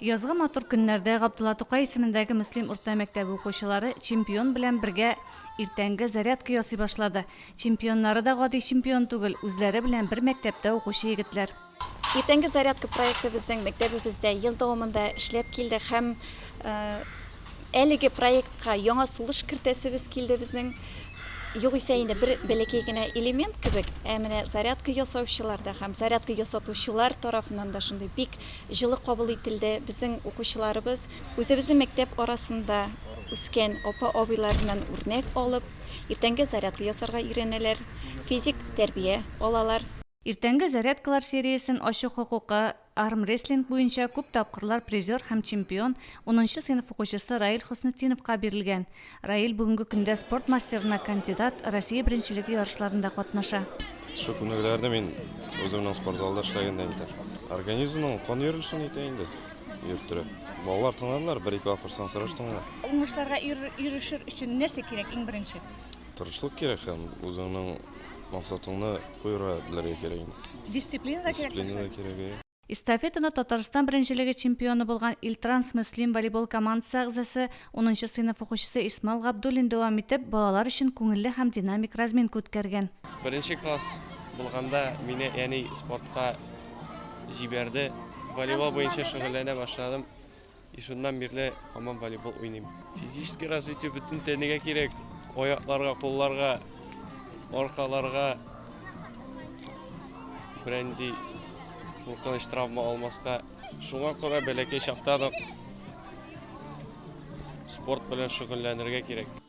Язгы матур көннәрдә Габдулла Тукай исемендәге Мөслим урта мәктәбе укучылары Чемпион белән бергә иртәнге зарядка ясый башлады. Чемпионнары да гади чемпион түгел, үзләре белән бер мәктәптә укучы егетләр. Иртәнге зарядка проекты безнең мәктәбебездә ел дәвамында эшләп килде һәм әлеге проектка яңа сулыш кертәсебез килде безнең. Югыйсә инде бер бәләкәй генә элемент кебек, ә менә зарядка ясаучылар да һәм зарядка ясатучылар тарафыннан да шундый бик Җылы кабул ителде безнең укучыларыбыз. Үзебезнең мәктәп арасында үскән апа-абыйларыннан үрнәк алып, иртәнге зарядка ясарга өйрәнәләр, физик тәрбия алалар. Иртәнге зарядкалар сериясен ачу хокукы армрестлинг буенча күп тапкырлар призер һәм чемпион, унынчы сыйныф укучысы Раил Хөснетдиновка бирелгән. Раил бүгенге көндә спорт мастерына кандидат, Россия беренчелеге ярышларында катнаша. Шул күнегүләрне мин үземнең спортзалда эшләгәндә итәм. Организмның кан йөрелешен итә инде, йөрттерә. Балалар тыңладылар, бер-ике акырсаң сораштыңнар. Уңышларга ирешер өчен нәрсә кирәк иң беренче? Тырышлык кирәк һәм үзеңнең максатыңны куерга белергә кирәк инде. Дисциплина да кирәк. Дисциплина да кирәк. Эстафетаны Татарстан беренчелеге чемпионы булган Илтранс Мөслим волейбол командасы әгъзасы, унынчы сыйныф укучысы Исмал Габдуллин дәвам итеп, балалар өчен күңелле һәм динамик разминка үткәргән. Беренче класс булганда мине әни спортка җибәрде. Волейбол буенча шөгыльләнә башладым. И шуннан бирле һаман волейбол уйныйм. Физический развитие бөтен тәнегә кирәк. Аякларга, кулларга, аркаларга. Бренди куркыныч травма алмаска. Шуңа күрә бәләкәй чактан ук спорт белән шөгыльләнергә кирәк.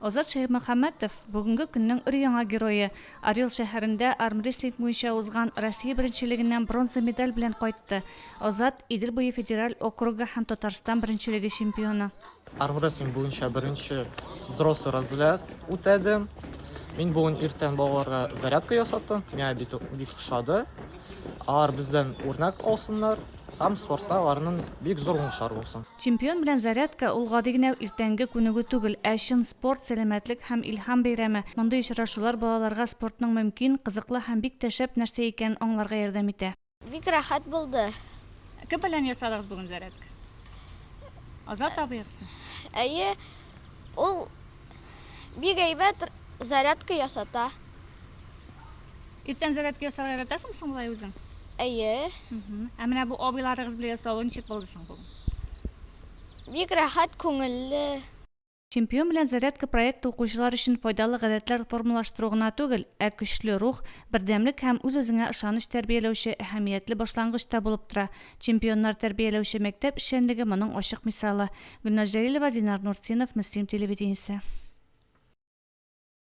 Азат Шәймөхәммәтов, бүгенге көннең өр-яңа герое, Орел шәһәрендә армрестлинг буенча узган Россия беренчелегеннән бронза медаль белән кайтты. Азат, Идел буе федераль округы һәм Татарстан беренчелеге чемпионы. Армрестлинг буенча беренче взрослый разряд үтәдем. Мин бүген иртән балаларга зарядка ясаттым, миңа бик ошады. Алар бездән үрнәк алсыннар. Һәм спортта аларның бик зур уңышлары булсын. Чемпион белән зарядка ул гади генә иртәнге күнегү түгел, ә чын спорт, сәламәтлек һәм илһам бәйрәме. Мондый очрашулар балаларга спортның мөмкин, кызыклы һәм бик тә шәп нәрсә икәнен аңларга ярдәм итә. Бик рәхәт булды. Кем белән ясадыгыз бүген зарядка? Азат абыегызмы? Әйе, ул бик әйбәт зарядка ясата. Иртән зарядка ясарга яратасың соң болай үзең? Әйе. Ә менә бу абыйларыгыз белән ясалуы ничек булды соң бу? Бик рәхәт, күңелле. Чемпион белән зарядка проекты укучылар өчен файдалы гадәтләр формалаштыру гына түгел, ә көчле рух, бердәмлек һәм үз-үзеңә ышаныч тәрбияләүче әһәмиятле башлангыч та булып тора. Чемпионнар тәрбияләүче мәктәп эшчәнлеге моның ачык мисалы. Гөлназ Җәлилова, Динар Нуртдинов, Мөслим телевидениесе.